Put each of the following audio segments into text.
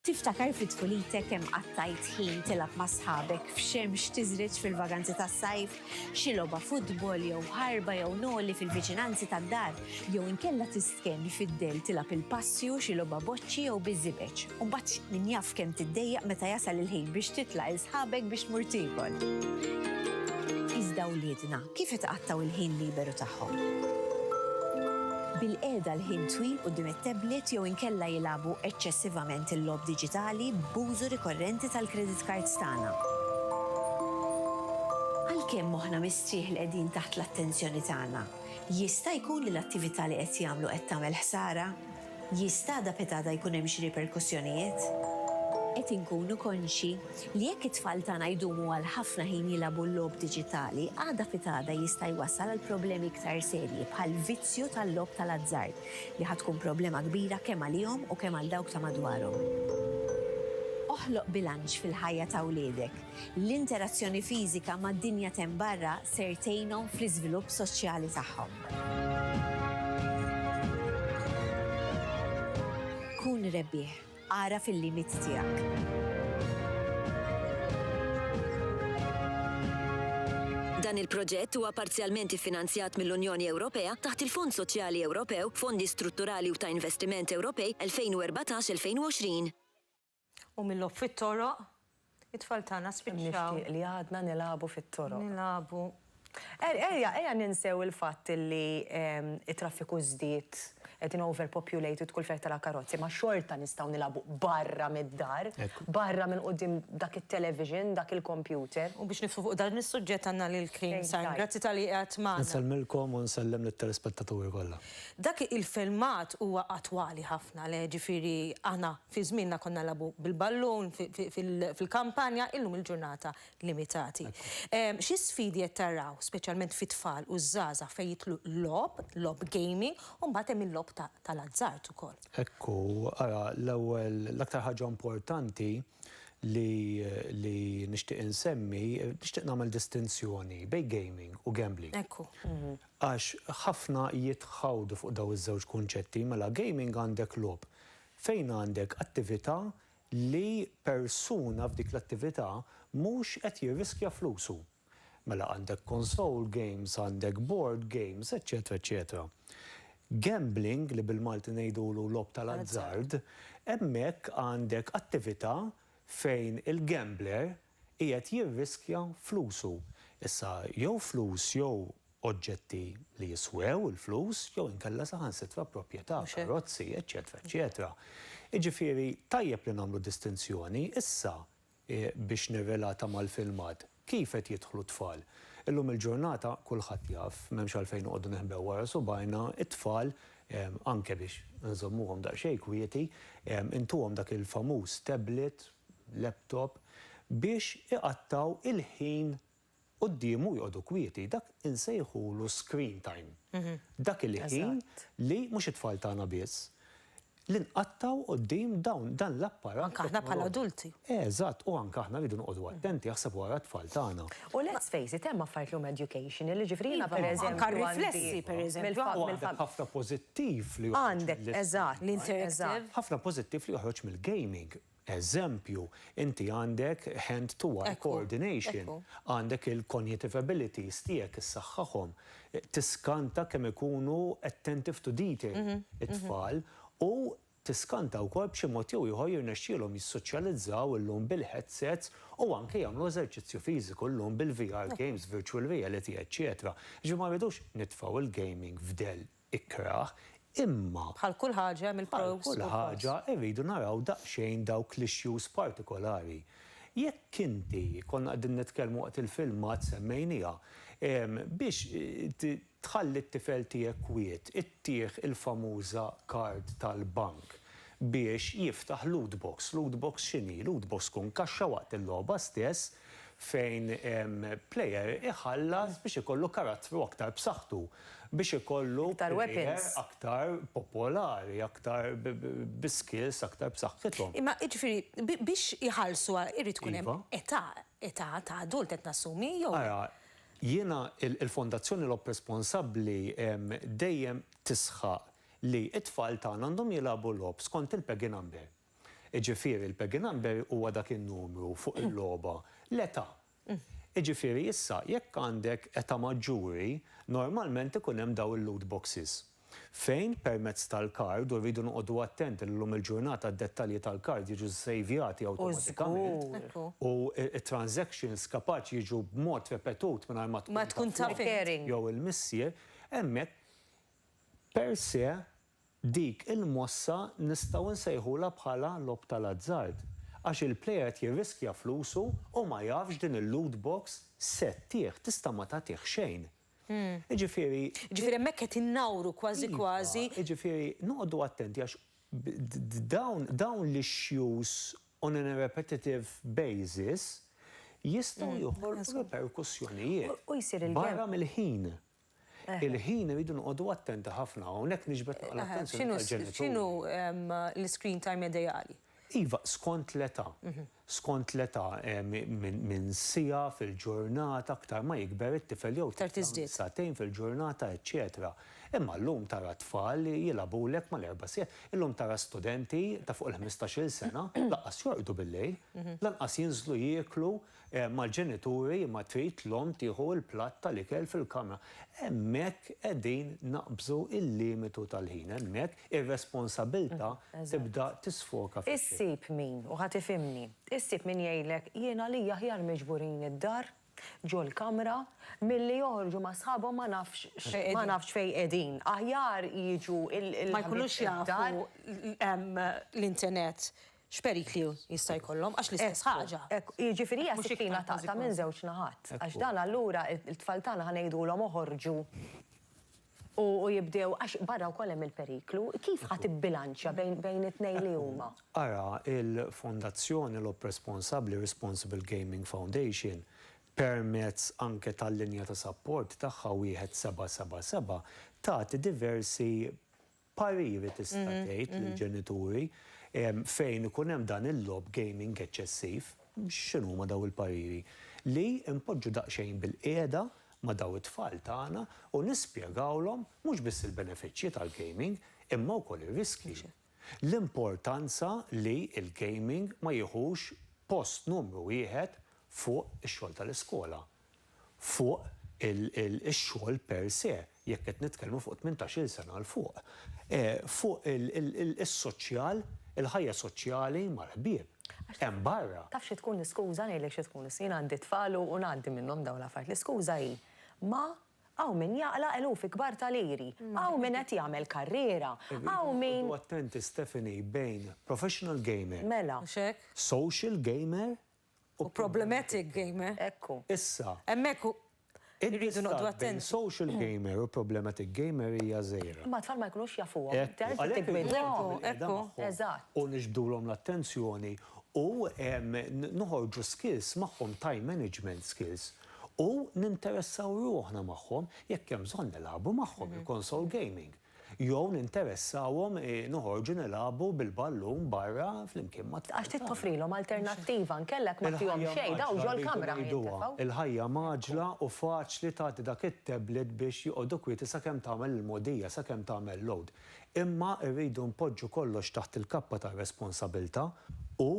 Tiftakar fi tfulitek kemm qattajt ħin tilgħab ma' sħabek f'xemx tiżreġ fil-vaganzi tas-sajf, xi logħba futbol jew ħarba jew noli fil-viċinanzi tad-dar, jew inkella tistkenn fid-dell tilgħab il-passju, xi logħba boċċi jew biż-żibeġ, u mbagħad min jaf kemm tiddejjaq meta jasal il-ħin biex titlaq 'il sħabek biex tmur tiekol. Iżda wliedna, Kif itqattgħu l-ħin liberu tagħhom? Bil-qiegħda għal ħin twil quddiem it-tablet jew inkella jilagħbu eċċessivament il-logħob diġitali b'użu rikorrenti tal-credit cards tagħna. Għalkemm moħħna mistrieħ li qegħdin taħt l-attenzjoni tagħna, jista' jkun li l-attività li qed jagħmlu qed tagħmel ħsara? Jista'da pita'da jkun hemm xi riperkussjonijiet? Qed inkunu konxji li jekk it-tfal tagħna jdumu għal ħafna ħin jilagħbu l-logħob diġitali, għada pita'da jista' jwassal għal problemi iktar serji bħall-vizzju tal-logħob tal-azzard, li ħa tkun problema kbira kemm għalihom u kemm għal dawk ta' madwarhom. Oħloq bilanċ fil-ħajja ta' wliedek. L-interazzjoni fiżika mad-dinja t'hemm barra ser tgħinhom fl-iżvilupp soċjali tagħhom. Kun rebbieħ. Agħraf il-limit tiegħek. Dan il-proġett huwa parzjalment iffinanzjat mill-Unjoni Ewropea taħt il-Fond Soċjali Ewropew, Fondi Strutturali u ta' Investiment Ewropej 2014-2020. U mil-logħob fit-toroq, it-tfal tagħna spiċċaw. Kemm nixtieq li għadna nilagħbu fit-toroq. Nilagħbu. Ejja, ejja ninsew il-fatt li t-traffiku żdied, qegħdin overpopulated kull fejn tara karozzi, imma xorta nistgħu nilagħbu barra mid-dar, barra minn quddiem dak it-television, dak il-kompjuter. U biex niftħu fuq dan is-suġġett għandna lil Krim Sain. Grazzi talli qiegħed magħna. Insellmilkom u nsellem lit-telespettaturi kollha. Dak il-filmat huwa attwali ħafna, le, jiġifieri aħna Fi żmienna konna nilagħbu bil-ballun fil-kampanja, illum il-ġurnata limitati. Xi sfidi qed taraw, speċjalment fit-tfal u ż-żgħażagħ fejn jidħlu l-logħob, logħob gaming, u mbagħad hemm il-logħob tal-azzard ukoll? Hekk hu, ara l-ewwel l-aktar ħaġa importanti li nixtieq insemmi, nixtieq nagħmel distinzjoni bejn gaming u gambling. Hekk hu. Għax ħafna jitħawdu fuq dawn iż-żewġ kunċetti, mela gaming għandek logħob Fejn għandek attività li persuna f'dik l-attività mhux qed jirriskja flusu. Mela għandek console games, għandek board games, eċċetera eċċetera. Gambling, li bil-Malti ngħidulu logħob tal-azzard, hemmhekk għandek attività fejn il-gambler, qiegħed jirriskja flusu. Issa, jew flus jew oġġetti li jiswew il-flus jew inkella saħansitra proprjetà, karozzi, eċċetera, eċċetera. Jiġifieri, tajjeb li nagħmlu distinzjoni. Issa, biex nirrelata mal-filmat, kif qed jidħlu t-tfal? Illum il-ġurnata, kulħadd jaf, m'hemmx għalfejn noqogħdu neħbew wara subgħajna, it-tfal, anke biex inżommuhom daqsxejn kwieti, intuhom dak il-famuż tablet, laptop biex iqattgħu il-ħin quddiemu u joqogħdu kwieti. Dak insejħulu screen time. Dak il-ħin li, mhux it-tfal tagħna biss, li nqattgħu quddiem dawn, dan l-apparat. Anke aħna bħala adulti. Eżatt, u anke aħna rridu noqogħdu attenti aħseb wara t-tfal tagħna. U let's face it, hemm affarijiet li huma educational, jiġifieri jiena pereżempju. Anke r-riflessi pereżempju. Għandek ħafna pożittiv li joħroġ. Għandek, eżatt. L-interactive. Ħafna pożittiv li joħroġ mill-gaming. Eżempju, inti għandek hand to eye coordination, għandek il-cognitive abilities tiegħek issaħħaħhom, tiskanta kemm ikunu attentive to detail it-tfal u tiskanta wkoll b'xi mod jew ieħor jirnexxielhom jissoċjalizzaw illum bil-headsets u anke jagħmlu eżerċizzju fiżiku llum bil-VR games, virtual reality, eċċetera Jiġifieri ma rridux nitfgħu l-gaming f'dell. ikrah, imma. Bħal kull ħaġa hemm il-pros u l-cons. Bħal kull ħaġa irridu naraw daqsxejn dawk l-issues partikolari. Jekk inti, konna qegħdin nitkellmu waqt il-filmat semmejnieha, biex tħalli t-tifel tiegħek kwiet ittih il-famuża card tal-bank biex jiftaħ loot box. Loot box x'inhi? Loot box tkun kaxxa waqt il-logħba stess fejn player iħallas biex ikollu karattru aktar b'saħħtu, biex ikollu player aktar popolari, aktar bi skills aktar b'saħħithom. Imma jiġifieri biex iħallsu irid tkun hemm età, età ta' adult qed nassumi jew? Ara, jiena il-Fondazzjoni Logħob Responsabbli dejjem tisħaq li t-tfal tagħna għandhom jilagħbu logħob skont il-PEGI number. Jiġifieri l-peggy number huwa dak in-numru fuq il-logħba, l-età. Jiġifieri issa jekk għandek età maġġuri, normalment ikun hemm dawn il-loot boxes. Fejn permezz tal-kard, u rridu noqogħdu attenti li llum il-ġurnata d-dettalji tal-kard jiġu ssejvjati awtomatikament, u t-transactions kapaċi jiġu b'mod repetut mingħajr ma tkun taf int jew il-missier, hemmhekk per se Dik il-mossa nistgħu nsejħulha bħala logħob tal-azzard għax il-player qed jirriskja flusu u ma jafx din il-loot box se ttih, tista' ma tagħtih xejn. Jiġifieri. Jiġifieri hemmhekk qed innawru kważi kważi. Iva, jiġifieri noqogħdu attenti għax dawn dawn l-issues on an a repetitive basis jistgħu joħolqu riperkussjonijiet barra mill-ħin. Il-ħin irridu noqogħdu attenti ħafna, hawnhekk nixbet naqra l-attenzjoni tal-ġenituri. X'inhu l-iscreen time ideali? Iva, skont l-età. Skont l-età, minn siegħa fil-ġurnata, aktar ma jikber it-tifel jew t-tifla, minn sagħtejn fil-ġurnata, eċċetera. Imma llum tara t-tfal li jilgħabulek mal-erba' siegħat. Illum tara studenti ta' fuq il-ħmistax-il sena lanqas jorqdu bil-lejl, lanqas jinżlu jieklu mal-ġenituri imma trid l-omm tieħu l-platt tal-ikel fil-kamra. Hemmhekk qegħdin naqbżu l-limitu tal-ħin, hemmhekk ir-responsabilta' tibda tisfoka fix-xejn. Issib min, u ħa tifhimni, issib min jgħidlek jien għalija aħjar miġburin id-dar, ġol-kamra, milli joħorġu ma' sħabhom ma nafx ma nafx fejn qegħdin. Aħjar jiġu l-ħbieb id-dar. Ma jkunux jafu l-internet. X'perikli jista' jkollhom għax l-istess ħaġa. Ekku, ekku. Jiġifieri hija sikkina taqta' minn żewġ naħat. Għax dan allura it-tfal tagħna ħa ngħidulhom oħorġu u jibdew għax barra wkoll hemm il-periklu. Kif ħa tibbilanċja bejn it-tnejn li huma? Ara l-Fondazzjoni Logħob Responsabbli, Responsible Gaming Foundation, permezz anke tal-linja ta' sapport tagħha 1777 tagħti diversi pariri tista' tgħid lill-ġenituri fejn ikun hemm dan il-logħob gaming eċċessiv, x'inhuma dawn il-pariri? Li npoġġu daqsxejn bilqiegħda ma' dawn it-tfal tagħna u nispjegawlhom mhux biss il-benefiċċji tal-gaming imma wkoll ir-riskji. L-importanza li l-gaming ma jiħux post numru wieħed fuq ix-xogħol tal-iskola. fuq ix-xogħol per se, jekk qed nitkellmu fuq tmintax-il sena 'l fuq, fuq is-soċjal, il-ħajja soċjali mal-ħbieb hemm barra. Taf xi tkun l-iskuża, ngħidlek xi tkun, jien għandi t-tfal u ngħaddi minnhom dawn l-affarijiet, l-iskuża hi, ma hawn min jaqla' eluf ikbar ta' liri, hawn min qed jagħmel karriera, hawn min. Irridu noqogħdu attenti Stephanie bejn professional gamer, social gamer u problematic gamer. Hekk hu. Issa. Hemmhekk hu. Irridu noqgħdu attenti. Bejn social gamer u problematic gamer hija żgħira. Imma t-tfal ma jkunux jafuhom. Hekk hu. Eżatt. U niġbdulhom l-attenzjoni u noħorġu skills magħhom, time management skills. U ninteressaw ruħna magħhom, jekk hemm bżonn nilagħbu magħhom, il-console gaming. Jew ninteressawhom noħorġu nilagħbu bil-ballun barra flimkien mat-tfal tagħna. Għax trid toffrilhom alternattiva, inkella jekk ma tihomx xejn dawn ġol-kamra ħa jintefgħu. Il-ħajja mgħaġġla u faċli tagħti dak it-tablet biex joqogħdu kwieti sakemm tagħmel il-mogħdija, sakemm tagħmel load. Imma rridu npoġġu kollox taħt il-kappa tar-responsabilità u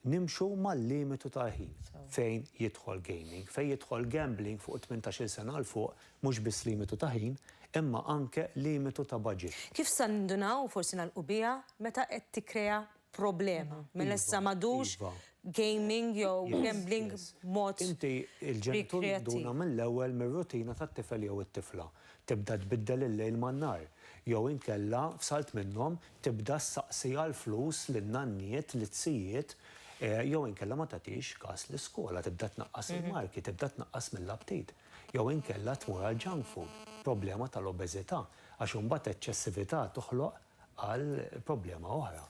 Nimxu mal-limitu tal-ħin fejn jidħol gaming, fejn jidħol gambling fuq it-tmintax-il sena 'l fuq, mhux biss limitu ta' ħin, imma anke limitu ta' baġit. Kif sa nindunaw u forsi nagħlqu biha meta qed tikkrea problema, mela issa m'għadux gaming jew gambling b'mod rikreattiv. Inti l-ġenitur tinduna mill-ewwel mir-rutina tat-tifel jew it-tifla. tibda tbiddel il-lejl man-nhar, jew inkella, f'salt minnhom, tibda ssaqsi għall-flus lin-nanniet, lit-tijiet, jew inkella ma tagħtix kas l-iskola, tibda tnaqqas il-marki, tibda tnaqqas mill-aptit, jew inkella tmur għall-junk food, problema tal-obeżità, għax imbagħad eċċessività toħloq għal problema oħra.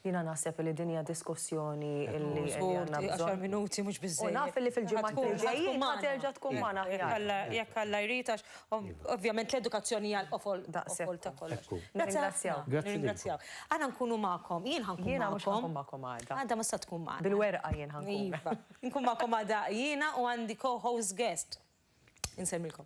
Jiena naħseb li din hija diskussjoni li għandna bżonn. minuti mhux biżżejjed. U naf li fil-ġimgħat li ġejjin ma terġa' tkun magħna aħjar. Jekk Alla jrid għax ovvjament l-edukazzjoni hija l-qofol ta' kollox. Nirringrazzjaw. Nirringrazzjaw. Aħna nkunu magħkom. Jien ħa nkun magħkom. Jiena mhux ħa nkun magħkom għada. Għada ma se tkun magħna. Bil-werqa jien ħa nkun. Iva. Nkun magħkom għada jiena u għandi co-host guest. Insellmilkom.